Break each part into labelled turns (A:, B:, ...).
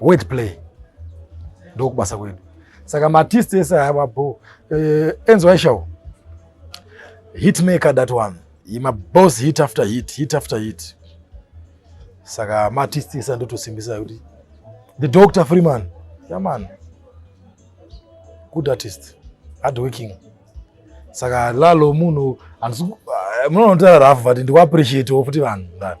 A: word play ndokubasa kwedu saka maartist ese ava bo eh, enzo aishawo hit maker that one ima boss hit after hit hit after hit saka maartist ese andotosimbisa kuti the doctor freeman yaman good artist hard working saka lalo munhu eh, munoona kuti ararafu but ndikuappreciate wo futi vanhu ndani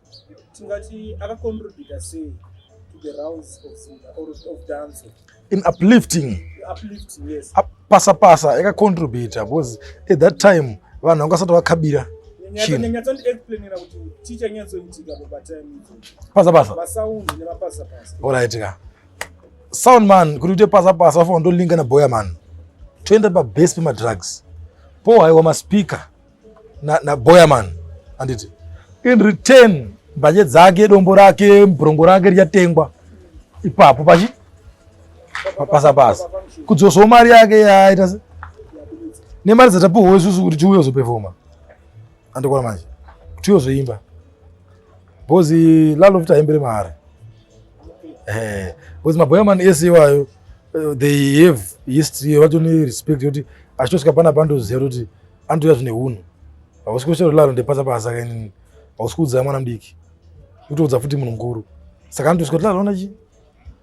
B: tingati akacontributa sei to the rounds of zimba or of dance in uplifting
A: uplifting
B: yes pasa pasa
A: yakacontributa because at that time vanhu vanga vasati vakabira
B: pasa pasa orit ka
A: sound man kuti uite pasa pasa vafana ndolinga naboya man toenda pabase pemadrugs po haiwa maspeaker na, na boyaman anditi in return mbanje dzake dombo rake brongo rake richatengwa ipapo pachi pasa pasa kudzosawo mari yake yaita nemari dzatapiwa isusu kuti tiuye zopefoma andikona manje tiuye zoimba bhozi lalofuti aimbere mari eh, bhozi maboyaman ese iwayo eh, they have history vatone respect yekuti achitosvika pana pandozero kuti andiuya zvine hunhu hausi kushero laro ndepasa pasa kainini hausi kuudzaya mwana mudiki utoudza futi munhu mukuru saka andiusi kuti laro onachi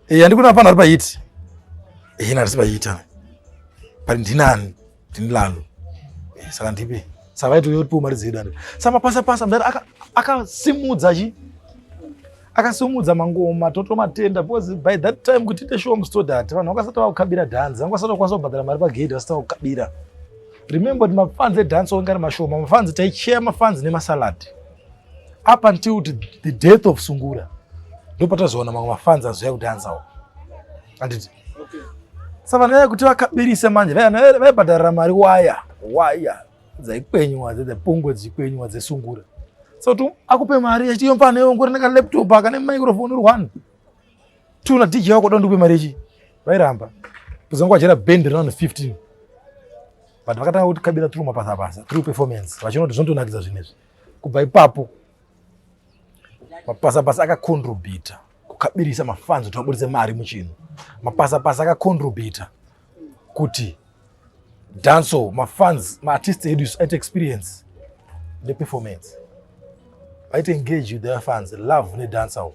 A: e andikuna pano ari pahiti e ina risi pahiti ana but ndinani ndini lalo e saka ndipe saka vaitouya kuti piwo mari dzedu andi samapasa pasa mudari akasimudza chi akasimudza mangoma totomatenda because by that time kuti ite show mustodati vanhu vakasati vakukabira dhanzi vanga vasati vakwanisa kubhadhara mari pagedhi vasati vakukabira Remember kuti mafans edance wanga ari mashoma, mafans taicheya mafans nemasalad up until the death of Sungura ndopatazoona mamwe mafans azoya kudanzawo anditi okay. Savana kuti vakabirisa manje vaibhadharira mari waya waya dzaikwenywa dze pungwe dzikwenywa dzesungura so tu akupe mari achiyomfana yongorina ka laptop akane microphone uri one tuna dj wako da ndikupe mari yechi vairamba kuzanga kwajera band rinono 15 but vakatanga kuti kabira tru mapasa pasa tru performance vachinoto zvinotonakidza zvinezvi kubva ipapo mapasa pasa akacontribita kukabirisa mafanzi kuti vaburitse mari muchinhu mapasa pasa akacontribita kuti danso mafans maartist edu isu aite experience neperformance vaite engage with their fans love nedansawo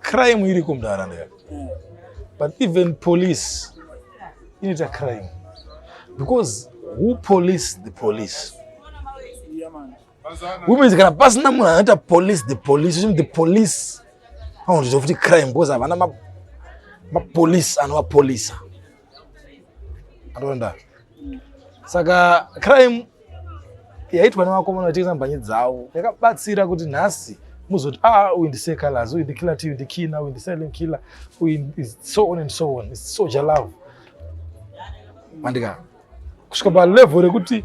A: crime iriko munharaunda yako but even police inoita crime because who police the police womenzi kana pasina munhu anoita police the police uchimi the police anotoita futi crime because havana mapolice anovapolisa atonda saka crime yaitwa nevakomana vachitengesa mhanyi dzavo yakabatsira kuti nhasi muzoti ah uyu ndise colors uyu ndikiller tv ndikina uyu ndisilent killer uyu so on and so on its soja love mandika kusvika palevel rekuti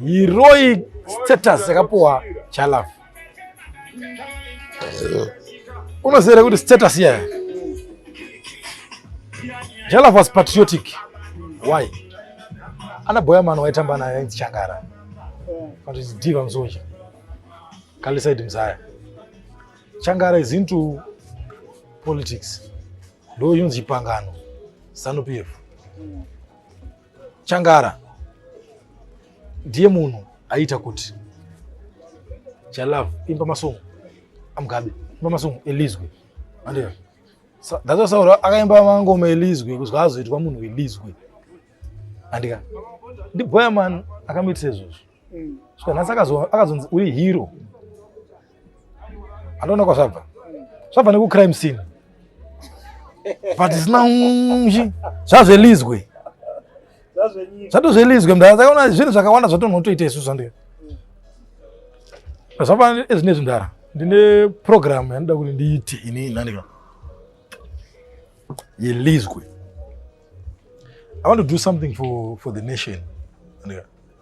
A: heroic status yakapuwa chalove unoziva kuti status yaya jalaf was patriotic why ana boya mano waitamba nayo ainzi changara but it's diva msoja kalisaid mzaya changara is into politics ndo yunzi chipangano zanu pf Changara ndiye munhu aita kuti chalove imba masungu amugabe imba masungu elizwe andiyo that's why akaimba mangoma elizwe kuzwa azoitwa munhu elizwe andika ndibhoya mani akamuitisa izvozvo mm. saka nhasi akazonzi uri hero andoona kwazvabva zvabva nekucrime scene but zina zvazvelizwe zvatozvelizwe mdara takaona zvinhu zvakawanda zvatonhotoita isu zvandiri zvapana ezvinezvi mdara ndine program yandida kuti ndiite ini nandika yelizwe i want to do something for, for the nation andika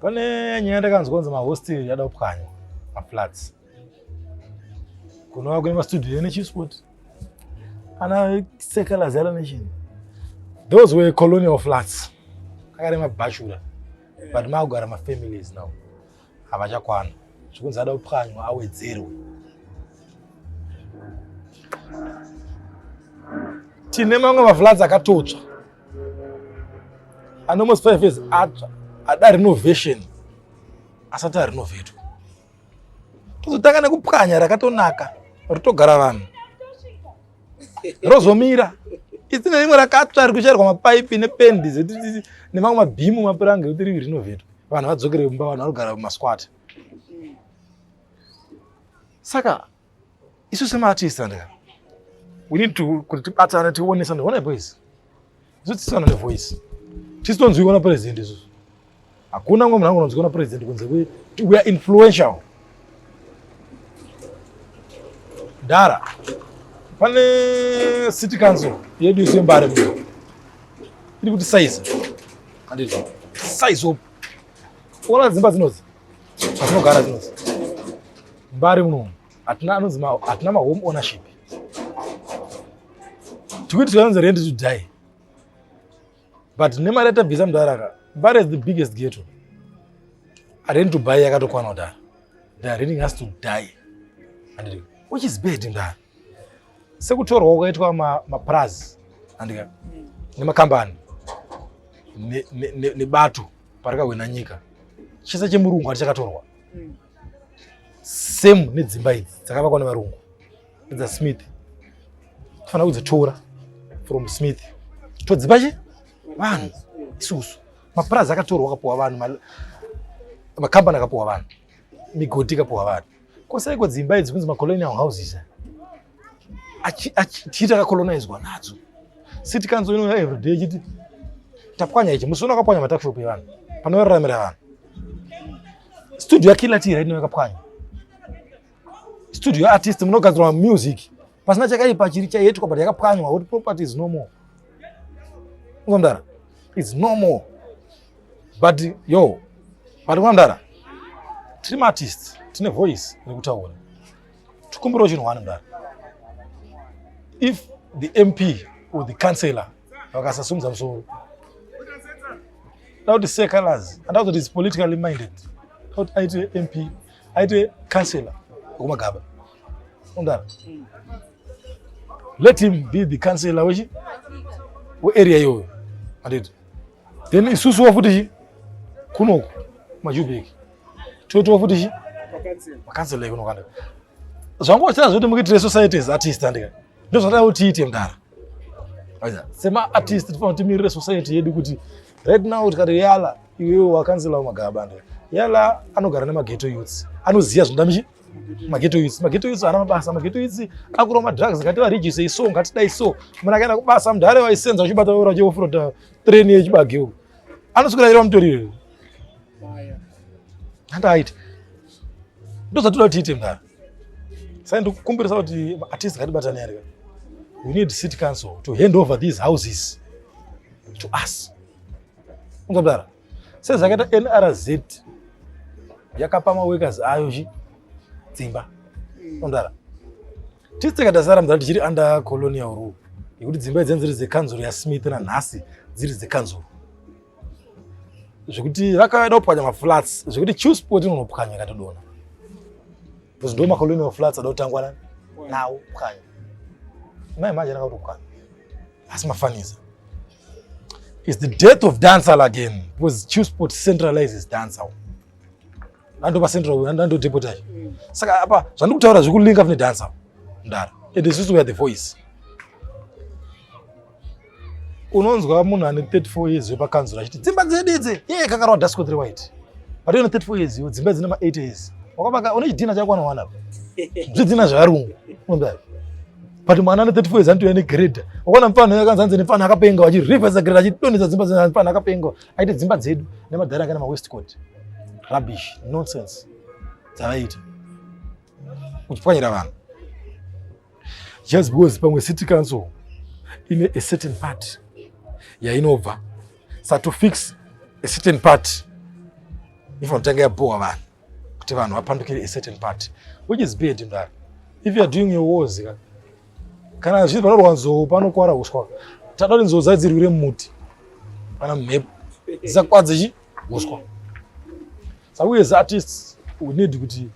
A: Pane nyaya ndakanzwa kunzi mahostel yada kupwanywa maflats kunova kune mastudio ene chisport ana sekalaz yalo nation those were colonial flats akare mabhashura but makugara mafamilies now havachakwana zvekunzi ada kupwanywa awedzerwe tine mamwe maflats akatotsva and almost five years atsva ada renovation asati arinovetwa tozotanga nekupwanya rakatonaka rotogara vanhu rozomira isi nerimwe rakatsva rikuchairwa mapaipi nependi nemamwe mabhimu mapuranga ekuti rivi rinovetwa vanhu vadzokere mumba vanhu vanogara mumasquat saka Isu semaartist andika. We need to kuti tibatane tione something. Ona boys. Isu tisana ne voice. Tisi tonzwikwa na president isu. Hakuna ngombe nangu tonzwikwa na president kunze kwe we are influential. Dara. Pane city council yedu isu yembare mwe. Iri kuti size. Andizvo. Size up. Ona dzimba dzinozi. Patinogara tinonzi mbari muno hatina anonzi hatina mahome ownership tikuti tikanonzi rendi to die but nemari yatabvisa mudaraka mbari is the biggest ghetto rendi to buy yakatokwana kudara the reading has to die and which is bad mdara sekutorwa kwakaitwa mapurazi andika nemakambani nebato parikahwena nyika chese chemurungu hati chakatorwa hmm. same nedzimba idzi dzakavakwa nevarungu dza smith tofanira kudzitora from smith todzipa chi vanhu isusu mapurazi akatorwa akapuwa vanhu makambani akapuwa vanhu migodhi ikapuwa vanhu Ko saiko dzimba idzi kunzi macolonial houses achiita kacolonizwa nadzo city council inouya everyday ichiti tapwanya ichi musi unakapwanya matakshop evanhu panoraramira vanhu studio yakila tira inouya kapwanya studio artist munogadzirwa music pasina chakaipa chiri chaiitwa but yakapwanywa kuti property is no more mdara is no more but yo but mdara tiri maartist tine voice rekutaura tikumbirawo chinhu wani mdara if the mp or the councillor vakasasumudza musoro da kuti secolors anda kuzoti is politically minded da kuti aite mp aite councillor wekumagaba Ungara. Mm. Let him be the councillor wechi we area iyoyo. Anditi. Then isusu wafuti chi kunoku majubeki. Toto wafuti chi? Councillor kunoku andika. Zvangu wachira zvoti mukiitire society as artist andika. Ndozvada kuti tiite mdara. Aja. Sema artist tifanira timirire society yedu kuti right now tikati yala iwewe wakanzila magaba andika. Yala anogara nemageto youths. Anoziya zvinoda michi? mageto youths mageto youths haana mabasa mageto youths akurwa madrugs ngativarijisei so ngatidai so munhu akaenda kubasa mnhu dare vaisenza vachibata vaura cheofrota train yechibage u anosukira iro mutoriro handaaiti ndozvatoda kuti tiite mdhara sai ndikukumbirisa kuti atist ngatibatane arika we need city council to hand over these houses to us ungamdara sezvakaita nrz yakapa maworkers ayo chi dzimba ondara tisi tikaita sara mudhara tichiri under colonial rule yekuti dzimba idzeni dziri dzekanzuro yasmith nanhasi dziri dzekanzuro zvekuti vakaenda kupwanya maflats zvekuti chiu sport inonopwanya ikatodona bcause ndo macolonial flats ada kutangwa nani nawo pwanya mai manje ndakatopwanya asi mafanisa It's the death of dancehall again because Chewsport centralizes dancehall. Ndandopa central ndando deputy. Mm. Saka apa zvandikutaura zvikulinka kune dancehall. Ndara. And this is where the voice. Unonzwa munhu ane 34 years yepa kanzura achiti dzimba dzedu idzi. Yeye kakarwa Dasco 3 white. But you know 34 years yo dzimba dzine ma 80 years. Wakabaka une chidina chako anowana. Zvidina zvarungu. Unonzwa. but mwana ane 34 years anotouya negrade wakaona mfana uyo akanzi anzi nemfana akapenga vachirivhesa grade achidonhedza dzimba dzina mfana akapenga aite dzimba dzedu nemadhara anga nemawestcoat rubbish nonsense dzavaita kuchipwanyira vanhu just because pamwe city council ine a certain part yainobva sa to fix a certain part ifanotange yabhowa vanhu kuti vanhu vapandukire a certain party which is bad mdara if youare doing your wars ka kana zvinhu panorwa nzou panokwara uswa tada kuti nzou dzadzirwire muti kana mhepo dzisakwadze chi uswa saka uye zaartists we need kuti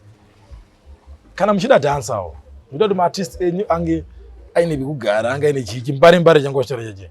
A: kana muchida dansawo muchida kuti maartist enyu ange aine pekugara ange aine chii chimbare mbare changu vachitaura cheche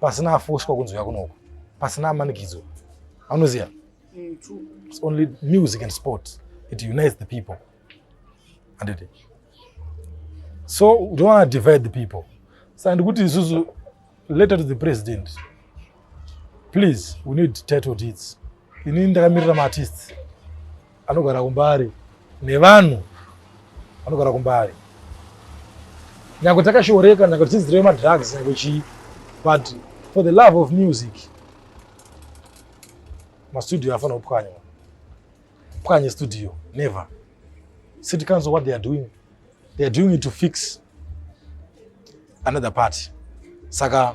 A: pasina afoswa kunzwika kunoko pasina amanikidzo anoziva mm, it's only music and sport it unites the people anditi so we don't want to divide the people saka ndikuti isusu letter to the president please we need title deeds ini ndakamirira maartists anogara kumbari nevanhu vanogara kumbari nyangwe takashoreka nyangwe tichiziva madrugs nyangwe chii but for the love of music mastudio afana kupwanya pwanye studio never city council what they are doing they are doing it to fix another party saka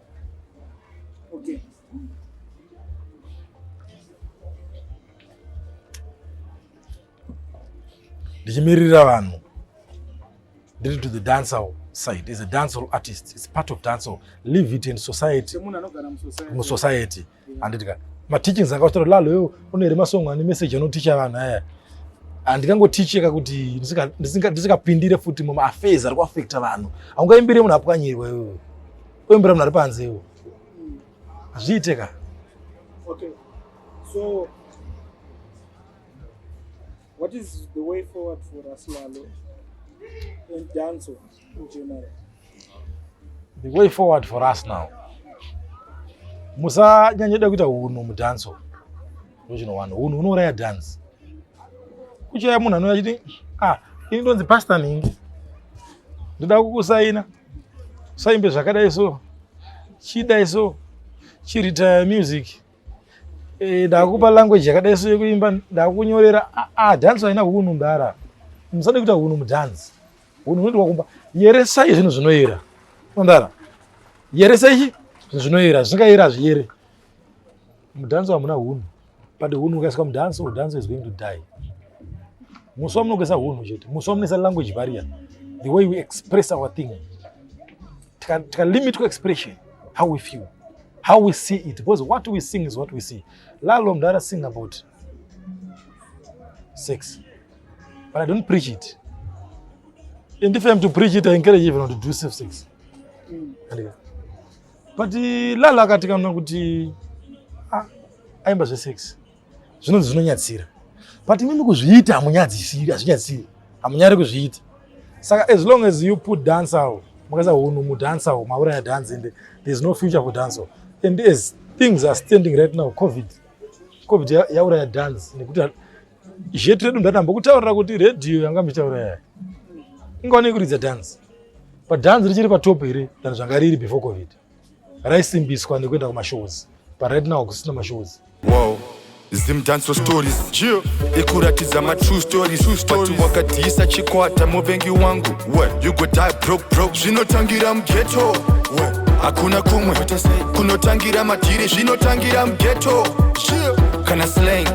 B: Okay.
A: ndichimirira vanhu ndiri to the dancehall side is a dancehall artist its part of dancehall leave it in society musociety handiti ka mateachings akatora lalo yo unere masong ane message anoticha vanhu aya handingangoticheka kuti ndisingapindire futi mumaaffairs ari kuaffecta vanhu haungaimbire munhu apwanyirwa iwe oimbira munhu ari panze iwo hazviite ka
B: okay. so what is the way forward for us lalo and danso
A: The way forward for us now. Musanyanye da kuita hunhu mudance. Ndochino wanhu hunhu unouraya dance. Kuchaya munhu anouya achiti ah ini ndonzi pastor nhingi. Ndoda kukusaina. Saimbe zvakadai so. Chidai so. Chiritaya music. Eh, ndakupa language yakadai so yekuimba ndakunyorera ah, ah dance haina hunhu mdara musade kuita hunhu mudhanzi Unoitwa kumba yeresai zvinhu zvinoyera. Unondara. Yeresai zvinhu zvinoyera, zvisingaeri hazviyere. Mudhanso hamuna hunhu. But hunhu ukaiswa mudhanso, mudhanso is going to die. Musi wamunokuisa hunhu chete, musi wamunoisa language barrier, the way we express our thing. Tika, tika limit ku expression, how we feel, how we see it, because what we sing is what we see. Lalo mdara sing about sex. but I don't preach it. And if I'm to preach it, I encourage everyone to do safe sex. Mm. But eh, Lala akati kana kuti ah, aimba zve sex zvinonzi zvinonyatsira but imimi kuzviita hamunyadzisiri hazvinyadzisiri hamunyari kuzviita saka as long as you put dance awo makaisa hunhu mudance awo mauraya dance and there's no future for dance and as things are standing right now covid covid yauraya dance nekuti Jet redu ndatamba kutaurira kuti radio yanga mitaura yayo. Inga wani kuridza dance. Pa dance richiri pa top here than zvanga riri before covid. Raisimbiswa nekuenda kuma shows. But right now kusina ma shows. Wow.
C: Zim dance stories. Yeah. Ikuratidza ma true stories. True stories. But wakadhisa chikwata muvengi wangu. What? You go die broke broke. Zvinotangira mu ghetto. What? hakuna kumwe kunotangira madhiri zvinotangira mugeto kana slang